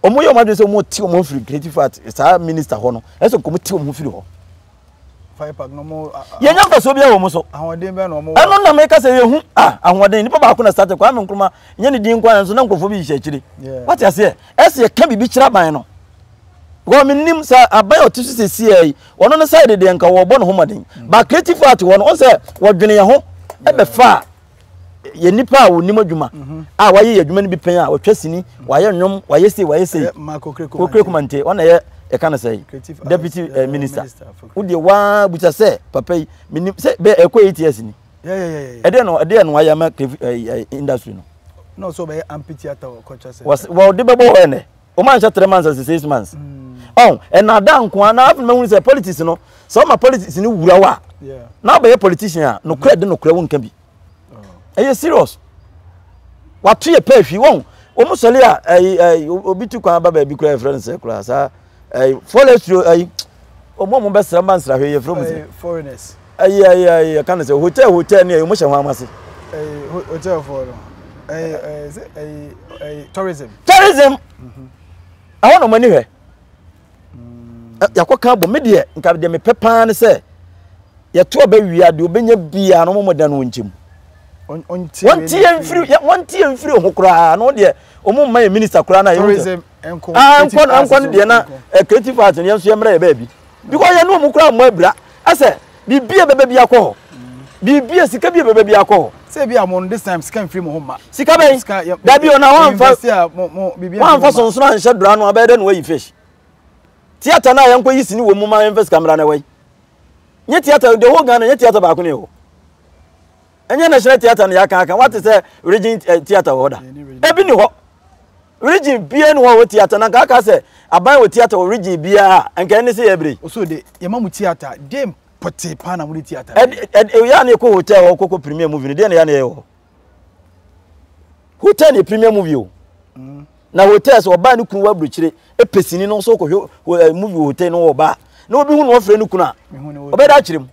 wɔn yɛ wɔn adwene sɛ wɔn ti wɔn ho firi creative art saa minister hɔ no ɛsɛ nkɔmɔ ti wɔn ho firi hɔ yɛnya mfasoɔ biara wɔ mu so ɛno na meka sɛ yɛhu ah, ahoɔden nipa baako na starte kwame nkroma nyɛ ne din nkoa nso na nkurɔfoɔ bi hyehyɛ akyire wate aseɛ ɛsɛ yɛka biribi kyerɛ aban no because menim sɛ aban a ɔte so sɛ sia yi ɔno no sɛ dedeɛ nka wɔbɔ ne ho mmɔden ba creative art wɔ no ɔn sɛ wɔdwene yɛn ho ɛbɛfa a yɛ nipa a wɔnim adwuma mhm. a wɔayɛ yɛ adwuma no bi pɛn a wɔtwa sini mhm. wɔayɛ nnwom wɔayɛ sei wɔayɛ sei kokure kumante ɔna yɛ yɛka no sɛ deputy eh, eh, minister wodeɛ waa busa sɛ papa yi menim sɛ bɛ ɛkɔ eight years ni ɛdeɛ no ɛdeɛ no ayɛ ama eh, industry no wɔde bɛbɔ hɔ ɛnɛ Wɔn anhyɛ three months as six months. Ɔn ɛnaadaa nkoa na afei mɛhunu sɛ politics no sɛ ɔma politics no wura wa na abɛyɛ politician a nokorɛ de nokorɛ wo nka bi. Ɛyɛ serious. Wato yɛ pɛ ahwi wɔn wɔn sɔre a ɛyi ɛyi obi tu kwan aba baabi kura ɛfrɛ no sɛ kura saa ɛyi forestry ɛyi wɔn a wɔn bɛsra mba nsrahwɛ yɛ fɛ wɔn sɛ. Foreigners. Ayi ayi ayi yɛka no sɛ hotel hotel ne ɛyɛ ɔmo hyɛ ho ama se. Ɛyi hotel foɔ no ɛyi ɛyi sɛ ɛyi ɛyi tourism. Tourism mhm. ɛhɔ na ɔmo ani hwɛ mm. yakɔ kan bɔ me deɛ nka deɛ mepɛ paa ne sɛ yɛto ɔbɛ wia deɛ ɔbɛnya biara na ɔmo mo dan no nkyɛm wɔntie mfiri wɔntie mfiri ho koraa na ɔdeɛ ɔmo mma yɛ minista koraa na yɛ ho tɛ ah nkɔ no deɛ na eh, creative arts yɛn nso yɛ mmerɛ yɛ baabi. because yɛne ɔmo koraa mmɔ abira ɛsɛ biribi a ɛbɛba bi akɔ hɔ biribi a sika bi a ɛbɛba bi akɔ hɔ. sɛ ebi a mo this time sika nfiri mo ho mma. sika bɛn dabi ɔna wɔnfa wɔnfa sonsono anhyɛ dora no abɛyɛ dɛ na wɔyi fish theatre no a yɛnkɔ yi sini wɔ mu ma yɛnfa sika mmra na ɛwɔ yi nye theatre the whole Ghana nye theatre baako ne ɛwɔ ɛnyɛ national theatre no yɛaka aka wate sɛ region eh, theatre wɔ hɔ da ebi ne hɔ. Region biara ni hɔ a ɔwɔ theatre na nka aka sɛ aban wɔ theatre wɔ region biara a nka ɛne sɛ yɛbrɛ yi. Oso de yɛma mo theatre den pɔtee paa na mode theatre bɛyɛ. Ɛde ɛde yɛ a na yɛkɔ hotel hɔ kɔkɔ premier movie no deɛ na yɛ a na yɛyɛ wɔ hɔ. Hotel na yɛ premier movie o. Mm. Na hotel sɛ ɔbaa ne kunu wɔ aburokyire ɛpɛ sini no nso kɔhwɛ movie wɔ hotel no wɔ ɔbaa na obi hu na ɔfrɛ ne kunu a ɔbɛda akyerɛ mu.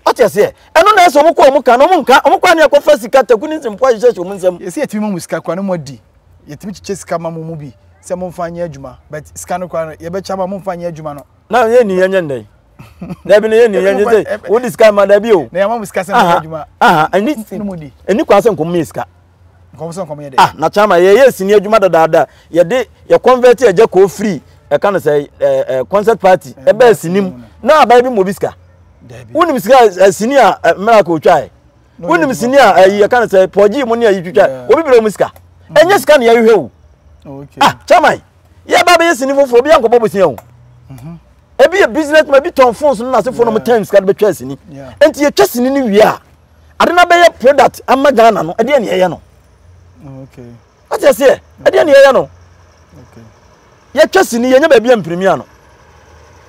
Wate aseɛ? Ɛno na ɛsɛ wɔn kɔ wɔn ka na wɔn nka wɔn kɔ ani akɔfa sika taku ne nsɛmpo ahyehyɛ hyɛ wɔn nsam. Yɛsi yɛtumi ma mo sika koraa na mo adi, yɛtumi kyekyɛ sika ma mo mu bi sɛ mo nfa nyɛ adwuma but sika no koraa no yɛbɛkyɛ ama mo nfa nyɛ adwuma no. Na yɛn ni yɛn nyɛ ndɛ yi. Dabi na yɛn ni yɛn nyɛ sɛ wodi sika ma dabi o. Na yɛn ama mo sika sɛ mo nyɛ adwuma. Aha aha ɛni ɛni kwan sɛ nkɔmɔ yɛ sika. nkɔm sɛ nkɔm yɛ dɛ. ah na kyama yɛyɛ sini adwuma dadaada yɛde yɛ convert ɛgya kɔɔ free ɛka no sɛ ɛɛ eh, ɛɛ eh, concert party ɛbɛ eh, sini mu na abaa bi mu obi sika wonim sika ɛɛ sini a ɛɛ miracle twa yɛ wonim sini a ɛyi ɛka no sɛ pɔgye mu ne ɛyi twitwa obi bere mu sika mm. ɛnyɛ sika ne yɛhwehwɛ o ah kyama yɛ ba bɛyɛ sini foforɔ obi ankɔbɔ bosia o mhm. ebi yɛ business man ebi tɔn phones no na ase phone no mo time sika de bɛtwa sini nti yɛtwa sini ne wie a. ade no abɛyɛ product ama ghana no ɛdeɛ ne yɛyɛ no wate aseɛ ɛdeɛ ne yɛyɛ no yɛtwa sini yɛnyɛ baabi a mpirimia no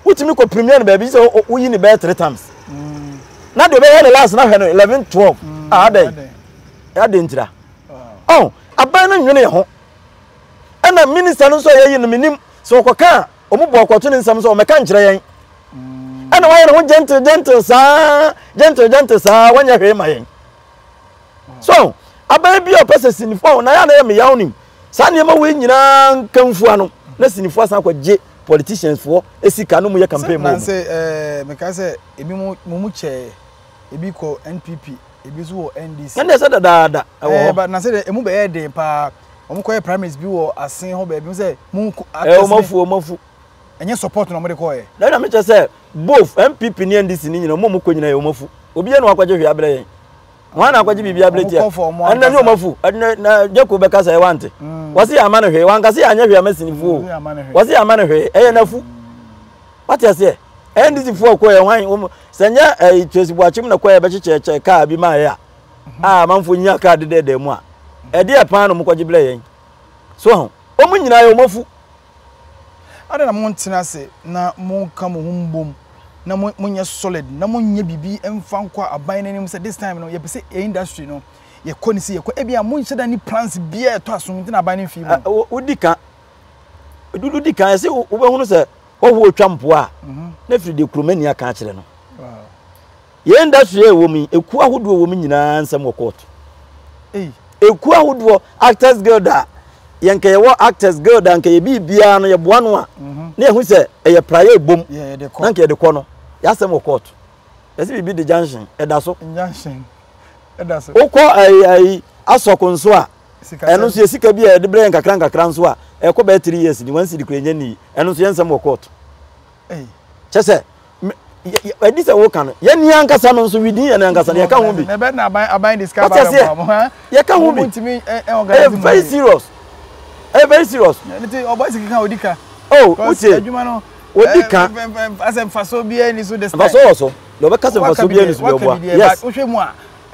wotumi kɔ pirimia no baabi sɛ woyi ne bɛyɛ three times mm. na deɛ ɔbɛyɛ ne last na hwɛ no eleven twelve mm, a adɛn adɛn ntira ɔn aban no nwene yɛ ho ɛna minista no nso a yɛyi no menim sɛ ɔkɔka a Wɔn bɔɔ kɔto ne nsam sɛ ɔmmɛka nkyerɛ yɛn. Ɛna wayɛ ne ho gentle gentle saa gentle gentle saa wanyɛ hwee ma yɛn. So abɛn bi a ɔpɛ sɛ sinifo a na yɛ na yɛ meyaw nim saa nneɛma wei nyinaa nkanfua no na sinifo asan kɔ gye politicians foɔ esika no mu yɛ campaign mu. Nansi ɛɛ eh, meka sɛ ebi mu mu mu kyɛɛ ebi kɔ NPP ebi nso wɔ NDC. Ɛna ɛsɛ dadaada ɛwɔ hɔ. Ɛɛ eh, ba nansi de emu bɛyɛ den paa. wɔn kɔyɛ primaries bi wɔ asen hɔ baabi sɛ mu nko actors ne. ɛ wɔn afu wɔn afu. ɛnyɛ support na wɔn de kɔɛ. na ɛna mekyɛ sɛ both npp ne ndc ne nyina wɔn a wɔn kɔ nyina yɛ wɔn afu obiara na wakɔgye hwee abrɛ yɛn wɔn na akɔgye biribi abrɛ tia ɛna ne wɔn afu ɛna na gyeko bɛka sɛ ɛwa nte mm. wɔsi yɛ ama ne hwee wankasi yɛ anyɛ hwee ama sinifuo mm, wɔsi yɛ ama ne hwee ɛyɛ n'afu mm. wate aseɛ ndc foɔ kɔ yɛ hwan wɔn sɛ nyɛ ɛyi eh, tracy buakyim na kɔ yɛ bɛkyekyɛ kyɛ kaa bi maa yɛ a. a amanfoɔ nya kaa dedɛɛdɛɛ mu a ɛdeɛ paa na wɔkɔgye brɛ yɛn so ho wɔn nyinaa yɛ wɔn afu adɛn na montena ase na monka mo ho mbom na monyɛ solid na monyɛ biribi mfa nkɔ aban no anim sɛ this time no yɛpɛ sɛ industry no yɛkɔ ne si yɛkɔ ebi a monhyɛ da ne plans biara ɛtɔ aso nti na aban no mfi mu wodi ka dudu di kan ɛsɛ wobɛhunu sɛ wɔhoɔ twa mpoa a mhm. na firi deɛ kuromani aka akyerɛ no Yɛn industry a ɛwɔ mu yi, ekuo ahodoɔ wɔ mu nyinaa nsɛm wɔ court. Ekuo ahodoɔ, actors guild a, yɛn nka yɛwɔ actors guild a nka yɛ biribiara no yɛboa no a, mhm. na yɛhu sɛ ɛyɛ pra yɛ bom, na nka yɛde kɔ no, yɛasɛm wɔ court. Yɛsɛ biribi de junction, ɛda so. Wokɔ ayi ayi asɔko nso a, ɛno nso yɛ sika bi a yɛde brɛ yɛn kakra nkakra nso a, ɛkɔ bɛyɛ three years ni, wɔn si de kura yɛn ni, ɛno nso yɛn nsɛm wɔ court. Kyɛ sɛ, ɛdi sɛ woka no. Yɛn nua ankasa no nso, within yɛn ankasa no, yɛka ho bi. Wate aseɛ? Yɛka ho bi. Ɛyɛ very serious. Ɛyɛ very serious. Oh, wotie? Odi ka. Mfasoɔ wɔ so. Deɛ ɔbɛka sɛ mfasoɔ biara ni so deɛ ɔboa. Yes.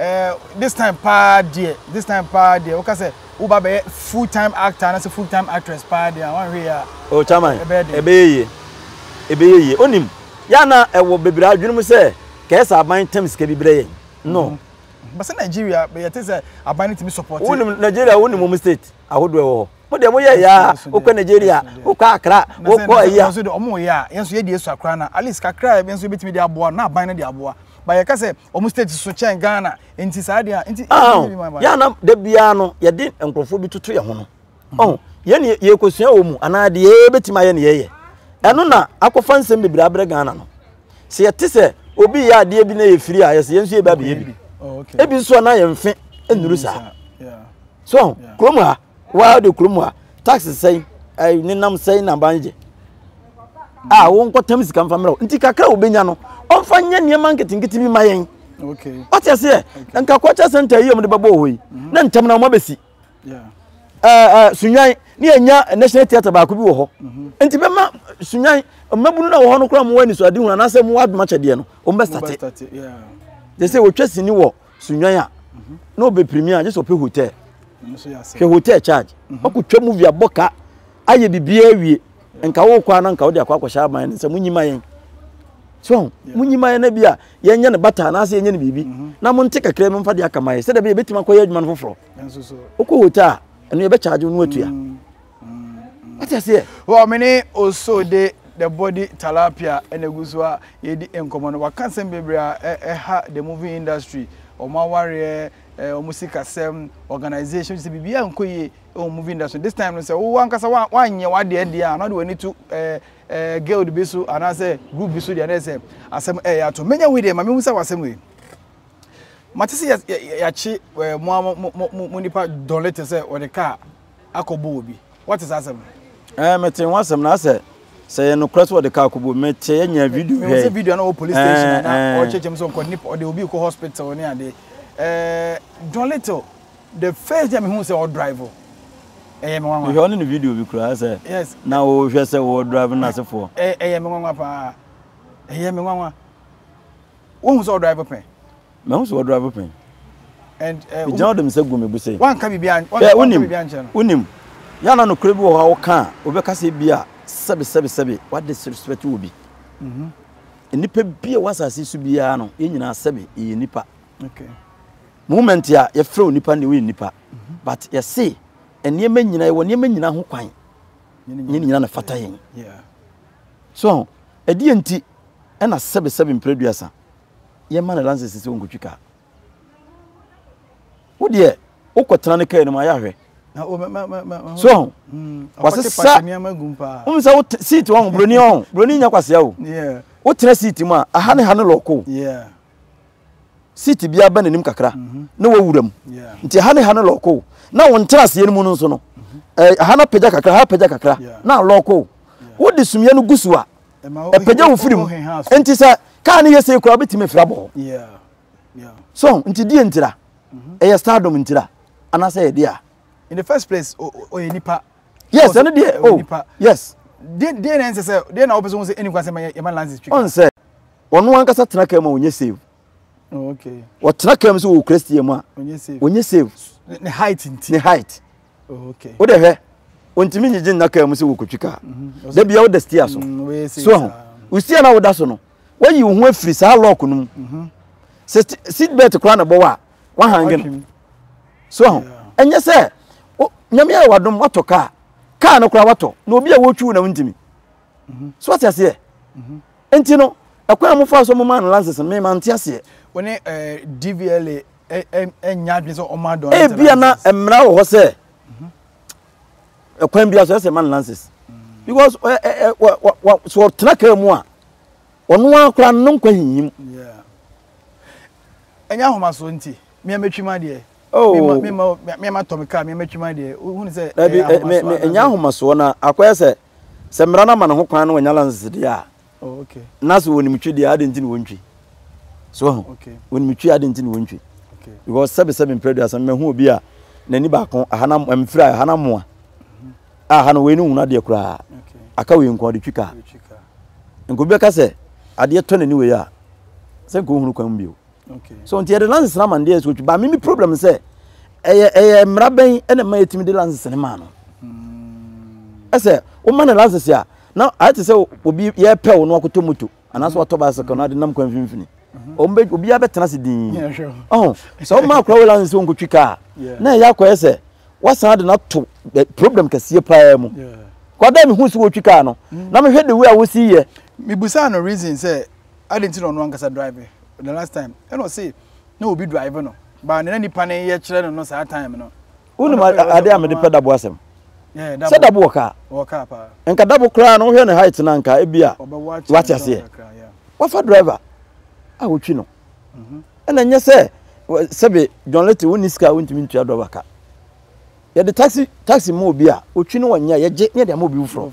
Eh this time paa deɛ this time paa deɛ woka sɛ woba bɛyɛ full time actor anasɛ full time actress paa deɛ a wanhwɛ yɛ a oh chairman ɛbɛyɛ den ɛbɛyɛ yie ɛbɛyɛ yie onim yɛ na ɛwɔ bebree adwene mu sɛ kɛɛsɛ aban tam sika bi brɛ yɛn no mm -hmm. bɛsɛ Nigeria bɛyɛ te sɛ aban no tumi support wonim Nigeria wonim wɔn state ahodoɔ ɛwɔ hɔ mo deɛ mo yɛ yɛ a wokɔ Nigeria wokɔ Accra wokɔ ɛyɛ a wɔn yɛ a yɛn nso yɛ deɛ esua koraa na at least kakra yɛn nso yɛbɛtumi de aboa na aban no de aboa ba yɛka sɛ Wɔn state so kyɛn Ghana nti saa deɛ a nti. Yɛn na da biara no yɛde nkurɔfoɔ bi toto yɛn ho no. Mhm. Ɔn yɛn ne yɛkɔsua wɔ mu anaa deɛ yɛbɛtumi ayɛ ne yɛyɛ. Ɛno na akɔfa nsɛm bebree abrɛ Ghana no. Sɛ yɛte sɛ obi yɛ adeɛ bi na yɛ firi a yɛsɛ yɛn nso yɛbɛ abɛyɛ bi. Oh, Ebi nso a na yɛn mfe nnuru saa. So kurom ha Woa wode kuro mu a tax sɛn ɛɛ nenam sɛn na ban gye a ah, wɔn nkɔtɛm sika nfa mmerɛw nti kakra a wɔbɛnya no wɔnfa nyɛ nneɛma nketenkete bi ma yɛn ɔte aseɛ nka kɔkyɛ sɛnta yi a wɔde bɛbɔ wɔ yi mhm. na ntɛm na wɔn abɛsi ɛɛ sunyan ne yɛnya national theatre baako bi wɔ hɔ mhm. nti bɛma sunyan mmabunu na wɔ hɔ no koraa wɔn ani so adi hu anaasɛ wɔn adoma kyɛdeɛ no wɔn bɛstate te sɛ wɔtwa sini wɔ. sunwan a na ɔbɛpirimi a gye sɛ ɔpɛ hotel hwɛ hotel charge mhm. ɔkɔtwa movie abɔ ka ayɛ biribiaa awie nka wokɔ a na nka wode akɔ akɔhyɛ aban no sɛ monyima yɛn so monyima yɛn no bi a yɛnyɛ no bata anaasɛ yɛnyɛ no biribi mhm. na monte kakra bi mfa de aka ma yɛ sɛdeɛ bɛyɛ bɛtumi akɔyɛ adwuma no foforɔ wokɔ hotel a ɛno yɛbɛkyagye no atua mm. wate aseɛ wɔ me ne oso de the body talapia ɛna egu so a yɛdi nkɔmɔ no waka nsɛm bebree a ɛha the movie industry wɔn awareɛ ɛɛ wɔn sikasɛm organisation sɛ biribi a nkɔ yie ɛwɔ movie industry this time no sɛ wo ankasa wa wanyɛ wadeɛ deɛ a na de w'ani to ɛɛ ɛɛ girl bi so anaasɛ group bi so deɛ na ɛsɛ asɛm ɛyɛ ato menya wei deɛ ma mehu sɛ w'asɛm wei mate sɛ yɛ yɛ yɛakye ɛɛ mo mo mo mo nipa dɔlete sɛ wɔde kaa. akɔbɔ obi. Woate saa asɛm no? Ɛɛ, metee ho asɛm na sɛ sɛ yɛ nokorɛ sɛ wɔde kaa kɔbɔ me te yɛ nya video hwɛ. Mehun sɛ video na wɔ police station na ɔkyerɛkyerɛm sɛ ɔkɔ nip ɔde obi kɔ hospital ne adeɛ. Ɛɛ John Little the first day mehun sɛ ɔdrive ɛyɛ me nwanwa. Mehwɛ ɔne ne video bi koraa sɛ yes na wɔhwɛ sɛ wɔ drive no asefoɔ. Ɛyɛ me nwanwa paa ɛyɛ me nwanwa wɔhu sɛ ɔdrive pɛn. Mahu sɛ wɔdrive pɛn. Migyaa ɔde me nsa guu me bo sɛ. Wanka biribiara ankyerɛ no. Hwɛ, wonim, wonim, yɛ a na nokorɛ bi wɔ hɔ a woka a, wobɛka sɛ ebia sɛbe sɛbe sɛbe woadisrespect obi. Nnipa bi a ɛwɔ asase yi so biara no, yɛn nyinaa sɛbe yɛyɛ nnipa. Moment a yɛfrɛ wo nnipa no deɛ woyɛ nnipa. But yɛse nneɛma nyinaa, yɛwɔ nneɛma nyinaa ho kwan. Nyɛ ne nyinaa na ɛfata yɛn. So, ɛdeɛ nti ɛna sɛbe sɛbe mprɛ aduasa? yɛ ma no lances sɛ ɔnkɔtwi kaa wo deɛ wokɔtena no kaa no mu ayɛ ahwɛ so ho mm, wasesa wom sɛ wo seat wɔ ho buroni wɔ ho buroni nya kwasea o wotena seat mu a aha ne ha no lɔko seat biara bɛ n'anim kakra mhm. na wawura mu nti aha ne ha no lɔko na wo ntena aseɛ no mu no nso no eh, aha no apagya kakra ha apagya kakra na lɔko wode sumiɛ no gu so a ɛpagya wo firi mu nti sɛ kaa no yɛ sei koraa wobɛtumi afiri abɔ hɔ so nti deɛ ntira mhm. ɛyɛ stardom ntira anaasɛ ɛyɛ deɛ a in the first place ɔyɛ nipa yes ɛno deɛ o oh, yes deɛ na ɛnsɛ sɛ deɛ na wopɛ sɛ wo sɛ ɛni kwa sɛ yɛma lances twi ɔnsɛ ɔno ankasa tena ka ma ɔnyɛ save wɔtena kaa mu sɛ wɔkura steer mu a wɔnyɛ save ne height nti ne height wode hwɛ ɔntumi nyigye nna kaa mu sɛ wɔkɔtwi kaa mhm. da bia woda steer so mm, so ho wo steer no a woda so no woayi wo ho afiri saa lock no mu mhm. sɛ seat belt koraa na bɔwɔ a wahange no so ho ɛnyɛ sɛ nyame ayɛ wadom watɔ kaa kaa no koraa watɔ na obi a wɔtwi wo na wontumi so ɔte aseɛ nti no ɛkwan a mofa so moma no lances me ma nte aseɛ wo ne eh, dvla eh, eh, ɛnya adwene sɛ ɔma adɔn ebia na mmara wɔ hɔ sɛ ɛkwan bia so ɛsɛ ma no lances because so ɔtena kaa mu a ɔno ara koraa no nkwa hinyim ɛnyɛ ahomasoɔ nti meɛmɛtwi ma deɛ meɛma tɔ me kaa meɛmɛtwi ma deɛ wohunu sɛ ɛnyɛ ahomasoɔ no akɔyɛ sɛ Sɛ mmara no ama no ho kwan na wanya lanse deɛ a, na sɛ wɔnim twi deɛ adɛn nti na wɔntwi? So wahu? Wɔnim twi adɛn nti na wɔntwi? Because sɛbesɛbe mprɛ aduasa mmahu obi a n'ani baako aha na mfiri a aha na mmoa mhm. a aha no wei no nhunu adeɛ koraa aka wei nko ɔde twi kaa nka obi bɛka sɛ adeɛ tɔ n'ani wei a sɛ nka ɔhunu kwan bio so nti yɛde license no ama no deɛ ɛsɛ otwi ba mimi problem sɛ ɛyɛ ɛyɛ mmara bɛn ɛna mma yɛtumi de license no maa no ɛsɛ woma no license a na ayɛ te sɛ obi yɛpɛ wo no wakɔtɔ moto anaasɛ watɔ bicycle na ade nam kwan mfimfini ɔmbɛ obiara bɛtena ase din ɔho sɛ woma akora wo license sɛ wonkɔtwi kaa na ɛyɛ akɔyɛ sɛ wasan ade no ato problem kɛseɛ paa mu kɔda mehu sɛ wɔtwi kaa no na mehwɛ de wei a wosi yɛ mebusaa no reason sɛ Adɛn nti na ɔno ankasa drive the last time? Ɛna ɔse na obi drive no ba na nipa no yɛ kyerɛ no no saa time no. Wonim adeɛ a mede pɛ dabo asɛm? Sɛ dabo wɔ kaa. Wɔ kaa paa. Nka dabo koraa no wohwɛ ne height no nka ebi a wate aseɛ. Wafa driver a wotwi no. Mhm. Ɛna nyɛ sɛ sɛbe John Lete wonni sika a wontumi ntua driver ka. Yɛde taxi taxi ma obi a otwi no wɔnyɛ yɛgye ne yɛde ama obi foforɔ.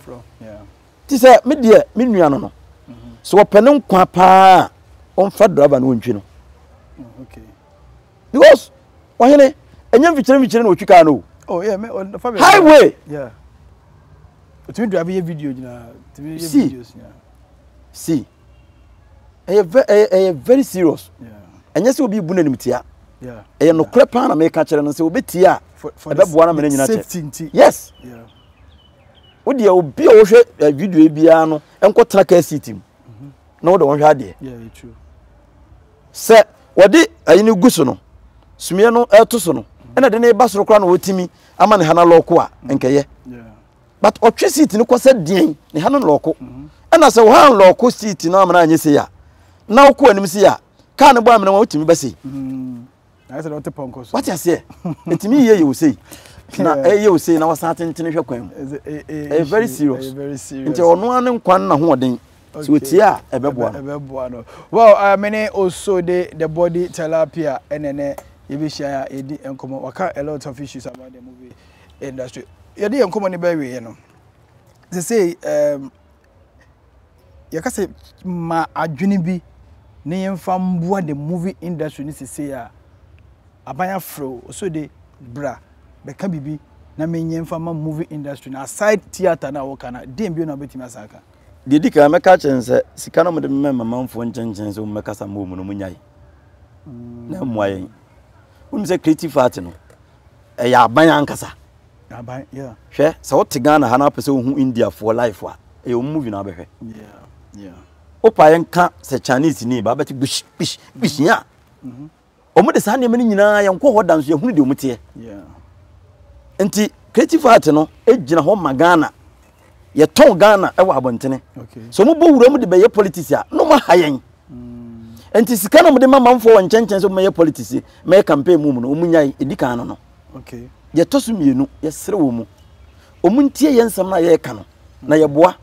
Te sɛ me deɛ me nua no no, sɛ wɔpɛ ne nkwa paa a, wɔmfa driver no wɔntwi no. Because ɔhene, ɛnyɛ mfikyire mfikyire na wɔtwi kaa no o. Oh, yeah, me, on, oh, Highway! Yeah. Tumi drive yɛ video nyinaa. Tumi yɛ videos nyinaa. See. Ɛyɛ very serious. Ɛnyɛ sɛ obi bu n'anim tia. Ɛyɛ nokorɛ paa na meka kyerɛ no sɛ wɔbɛtie a ɛbɛboa no mene nyina kyɛ. Yes. Yeah. wo deɛ obi a wɔhwɛ eh, video yi biara no nkɔ tena car seat mu mhm. na wɔde wɔn hwɛ adeɛ sɛ wɔde ayi no gu so no sumiɛ no ɛto so no mhm. ɛna de ne ba soro koraa na wɔtumi ama ne ha no lɔɔko a mhm. nkɛyɛ but ɔtwe seat no kɔ sɛ deɛn ne ha no lɔɔko ɛna sɛ wɔha lɔɔko seat no amana anyɛ sei a na wokɔ anim sei a kaa no bɔ amena wɔn wotumi bɛsei ayɛ sɛ ɔte pɔnkɔ so wate aseɛ ɛtumi yie yɛ wo sei na ɛyɛ wo sei na wasan atentene hwɛ kwan mu ɛyɛ very serious nti ɔno ano nkwa no na hoɔden sɛ wɔtie a ɛbɛboa no well uh, mene also de the body tilapia ɛnɛnɛ yɛbɛhyia a yɛdi nkɔmmɔ waka a lot of issues about the movie industry yɛde yɛ nkɔmmɔ no bɛwieɛ no sɛ sei um, yɛka sɛ ma adwene bi na yɛmfa mboa the movie industry no sesei a aban afrɛ o so de bra bɛka biribi na menyɛ mfa ma movie industry no aside theatre no a wɔka no deɛ bio na wobɛtumi asan aka deɛ di kan mɛka kyerɛ no sɛ sika no mode mema mamanfoɔ nkyenkyen sɛ wɔmmɛkasa ma wɔn no monnyae na mmoa yɛn wonim sɛ creative art no ɛyɛ aban ankasa Hwɛ sɛ wote Ghana ha na wopɛ sɛ wohu India foɔ life a, ɛyɛ wɔn movie na wobɛhwɛ. Wopa yɛ nka sɛ Chinese ni ba bɛte gbish gbish gbish ya. Wɔn de saa nneɛma no nyinaa yɛn kɔ hɔ da nso yɛn hunu deɛ wɔn teɛ. Nti creative art no gyina hɔ ma Ghana yɛtɔn ghana wɔ abɔntene sɛ ɔmo bɔ wura mu de bɛyɛ politics a na ɔmo aha yɛn mm. nti sika na ɔmo de ma manfoɔ wɔ nkyɛnkyɛn sɛ ɔmo yɛ politics mɛyɛ campaign mu mu no ɔmo nyae edi kan no no deɛ ɛtɔ so mmienu yɛsrɛ wɔ mu ɔmo ntie yɛ nsɛm no a yɛreka no na yɛboa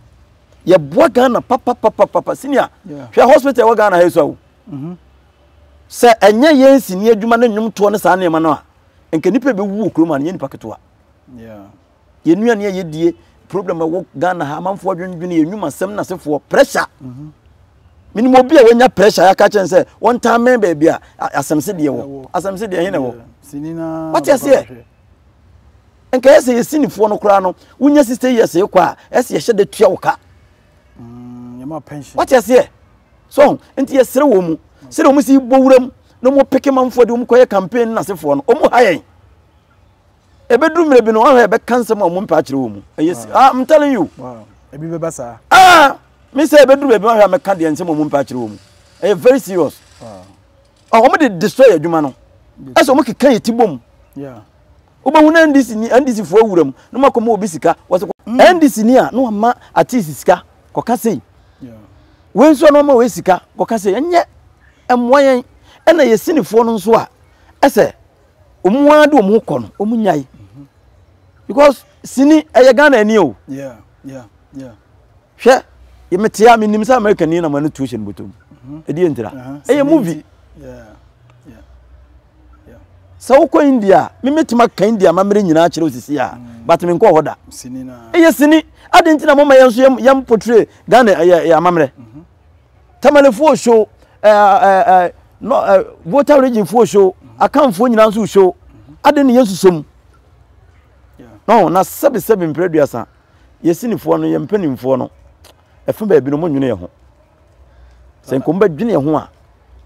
yɛboa ghana papapapapa senior hwɛ hospital ɛwɔ ghana ha so awo mhm. sɛ ɛnyɛ yɛn sini adwuma ne nnwomtoɔ ne saa nneɛma no a nka nipa bɛwu wɔ kurom a no yɛ nipa ketewa yɛn nnuane a yɛdie problem a ɛwɔ ghana ha amanfoɔ adwendwene yɛn nnwuma sɛm na sefoɔ pressure mhm. menim obi a wanya pressure yɛaka kyɛn sɛ wɔntaa mmɛn baabi a asɛm se deɛ wɔ asɛm se deɛ he na ɛwɔ wate aseɛ nka yɛ sɛ yɛsi nifoɔ no koraa no wonya sista yɛ sɛ kɔ a ɛsɛ yɛhyɛ da tua wo ka mm, wate aseɛ so nti yɛserɛ wɔ mu sɛdeɛ ɔmo si bɔ wuram na ɔmo peke manfoɔ de ɔmo kɔyɛ campaign no nasefoɔ no ɔmo ha yɛn Ebedu mmerɛ bi no, wɔahwɛ ɛbɛka nsɛm a wɔn mpɛ akyerɛ wɔn mu. Ɛyɛ si, ah, I'm telling you. Wow, ebi bɛba saa. Ah, mi sɛ ebedu baabi wɔahwɛ amɛka deɛ nsɛm a wɔn mpɛ akyerɛ wɔn mu. Ɛyɛ very serious. Wow. Ah, wɔn de destroy adwuma no. Ɛsɛ wɔn keka yɛ ti bom. Yeah. Wobɛhu na NDC ni NDC foɔ awura mu na wɔn akɔma obi sika. Wɔsɛ NDC mm. ni a na wɔn ama artist sika kɔka sei. Yeah. Wei nso a na wɔn ama wei sika kɔka sei. Ɛnyɛ ɛmoa yɛn ɛna yɛ sinifoɔ no nso a ɛsɛ wɔn ara de wɔn kɔ no wɔn nyae because sini ɛyɛ ghana ani o hwɛ metea menim sɛ america ni na mane tuo hyɛ no bɔtɔm ɛdeɛ ntira ɛyɛ movie sɛ wokɔ india a memetumi aka india mammerɛ nyinaa kyerɛ osisi a mm. but menkɔ hɔ da ɛyɛ sini ade nti na moma yɛn so yɛm potre ghana ɛyɛ amammerɛ mhm. Tamalefo so, Volta region fo so, Akanfoɔ nyinaa nso so. Ade ne yɛn nso mu. No, na sɛbi sɛbi mpere duasa. Yɛsi nifoɔ no, yɛn mpanimfoɔ no, ɛfo baabi no, mo nwene yɛn ho. Sɛ nkomo bɛ dwene yɛn ho a,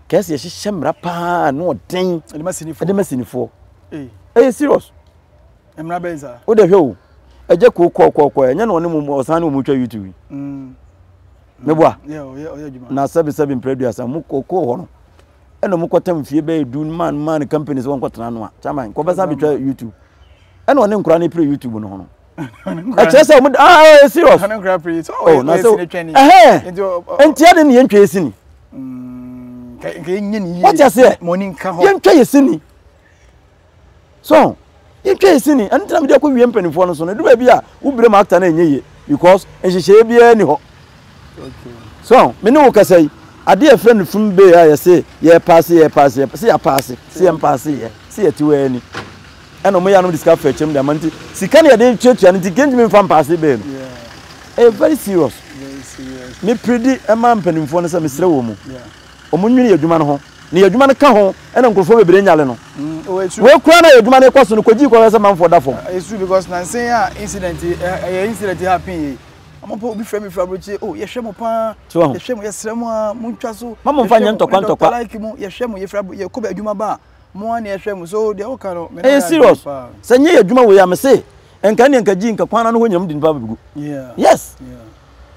kɛse yɛhyehyɛ mmara paa na ɔden. Ɛde ma sinifoɔ. Ɛyɛ serious. Mmara bɛyɛ saa. Wo de hwɛ o. Ɛgye koo kɔɔ kɔɔ kɔɔ ɛnyɛ na ɔne mu ɔsan ne wɔn twa YouTube yi. Mm. Me boa. Mm. Yeah, ɔyɛ ɔyɛ adwuma. Na sɛbi sɛbi mpere aduasa mu kɔɔ kɔɔ hɔ no. Ɛna wɔn kɔ tam fie bɛyɛ du man man companies wɔn kɔ tena no a. Chairman kɔ bɛsan bɛtwa YouTube. Ɛna ɔne nkura ne pere YouTube no ho no. Ɛkyerɛ sɛ wɔn ah ɛyɛ eh, eh, serious. Ɔne nkura pere so ɔyɛ ɔyɛ sini twɛ ni. Ɛhɛn. Ntia de ne yɛn twɛ sini. Mm. Nka yɛn nyɛ ni yie. Wɔte aseɛ. Mɔni nka hɔ. Yɛn twɛ yɛ sini. So ho? Yɛntwa yɛ sini, ɛno nti na mede akɔ wie mpanimfoɔ no so no, ɛdu baabi a wobrɛ mu akta no ɛnyɛ yie because nhyehyɛeɛ biara ni hɔ. So ho? Me ne wo kasa yi, adeɛ a yɛfrɛ no fum bay a yɛse yɛrepaase yɛrepaase yɛrepaase, se yɛapaase, se yɛmpaase yɛ, se yɛte hɔ ara ni. Ɛna wɔn yɛ anom de sika fa akyɛm de ama nti sika no yɛde tuatua no nti kentumi mfa mpaase bay no. Ɛyɛ very serious. Me predi ɛma mpanimfoɔ no sɛ mesrɛ wɔn mu. Wɔnnwene yɛn adwuma no ho. Na yɛn adwuma no ka ho na nkurɔfoɔ bebree nyale no. Wei koraa na yɛn adwuma no rekɔ so no, kɔgyee kɔhwɛ sɛ manfoɔ da fam. Ɛyɛ sure because nansa yi a incident yi ɛyɛ incident yi happen yi, wɔn mpo obi frɛ me firi aburokyire, oh yɛhwɛ mo paa, yɛhwɛ mo, yɛsrɛ mo aa, montwa so, yɛhwɛ mo, me dɔkta like mo, yɛhwɛ mo, yɛfiri yɛkɔ adwuma ba a. mo ani ɛhwɛ mo so deɛ woka no ɛyɛ serious sɛ nyɛ yɛ adwuma wei a me se nka ne nka gyi nka kwan no ho nyam di nipa bɛgu yes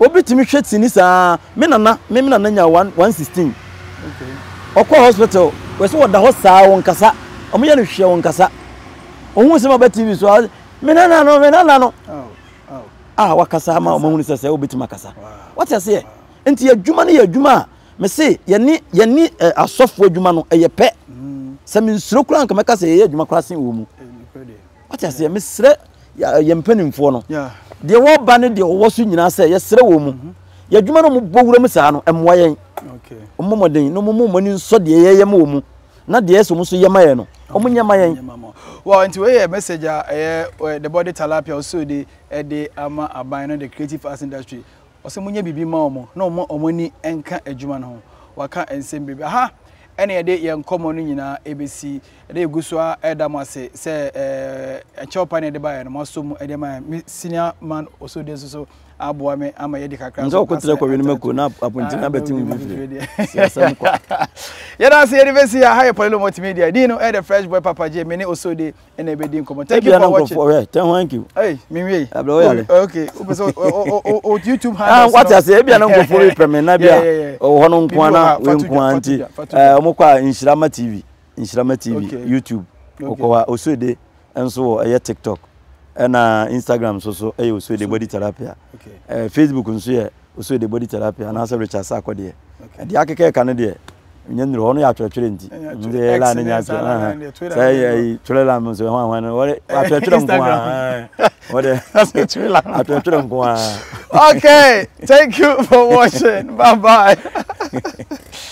obi tumi hwɛ tini saa me nana me me nana nya 116 ɔkɔ hospital wɔ sɛ wɔda hɔ saa wɔn kasa wɔn yɛ no hwɛ wɔn kasa ohun sɛ ma bɛ tv so me nana no me nana no a wakasa ama wɔn ahunu sɛ sɛ obetumi akasa wɔte aseɛ nti adwuma no yɛ adwuma a Me se yɛne yɛne eh, asɔfo adwuma no ɛyɛ pɛ. Sɛ me nsuro koraa nka mɛka sɛ yɛyɛ adwuma koraa sen wɔ mu. Wate aseɛ mesrɛ yɛ mpanimfoɔ no deɛ wɔba ne deɛ wɔwɔ so nyinaa sɛ yɛsrɛ wɔ mu. Mhm. Yɛ adwuma no mobɔ wura mu saa no ɛmmoa yɛn. Ɔmmɔ mmɔden na ɔmo mu ɔmo ani nsɔ deɛ yɛyɛ ma wɔ mu na deɛ ɛsɛ ɔmo nso yɛ ma yɛn no ɔmo nyɛ ma yɛn. Well, nti wei yɛ message a ɛyɛ the body talapia ɔsoo de ɛde ama aban no the creative arts industry. Ɔsɛ monyɛ biribi ma wɔn na wɔmma wɔn ani nka adwuma no ho. Wɔaka nsɛm bebree. Aha na yɛde yɛn nkɔmmɔ no nyinaa rebɛsi. Ɛnnɛ yɛgu so ara reda mo ase sɛ ɛɛ kyɛw pa na yɛde baeɛ no, moasɔ mu de ama yɛn. Me senior man Osode nso so aboa me ama yɛadi kakra nso. Nso ɔkɔtena kɔwe no mako na apɔnten na bɛte mu fifiri. Si asɛm kwa. Yɛda ase yɛde bɛsi ha. Ha yɛ Polilo Multimedia. Din no ɛyɛ The Fresh Boy Papa J. Me ne Osode ɛna ɛbɛdi nkɔmmɔ thank you for watching ɔhwɛ tɛn thank you ɛy menwie abirɛ ɔyɛ ale okay wopɛ sɛ o youtube ah, handles wate ase ebi anam nkɔfo bi pɛ me na bi a ɔwɔ hɔ no nko ana wei nko ara nti ɛɛ ɔmo kɔ a nhyirama tv nhyirama tv youtube ɔkɔ hɔ a osuede nso wɔ ɛyɛ tiktok ɛna instagram nso so ɛyɛ osuede body therapy a ɛɛ facebook nso yɛ Osue de body tilapia anaasɛ Richard Sako deɛ. Okay. Deɛ akeka ɛka no deɛ nyɛ nnuro hɔ no yɛ atwerɛtwerɛ nti. Nti yɛ line nyɛ atwerɛ. Sɛ yɛ twerɛ line mu nso ɛho ahoa no wɔde atwerɛtwerɛ nko ara. Wɔde atwerɛtwerɛ nko ara. Okay, thank you for watching. Bye bye.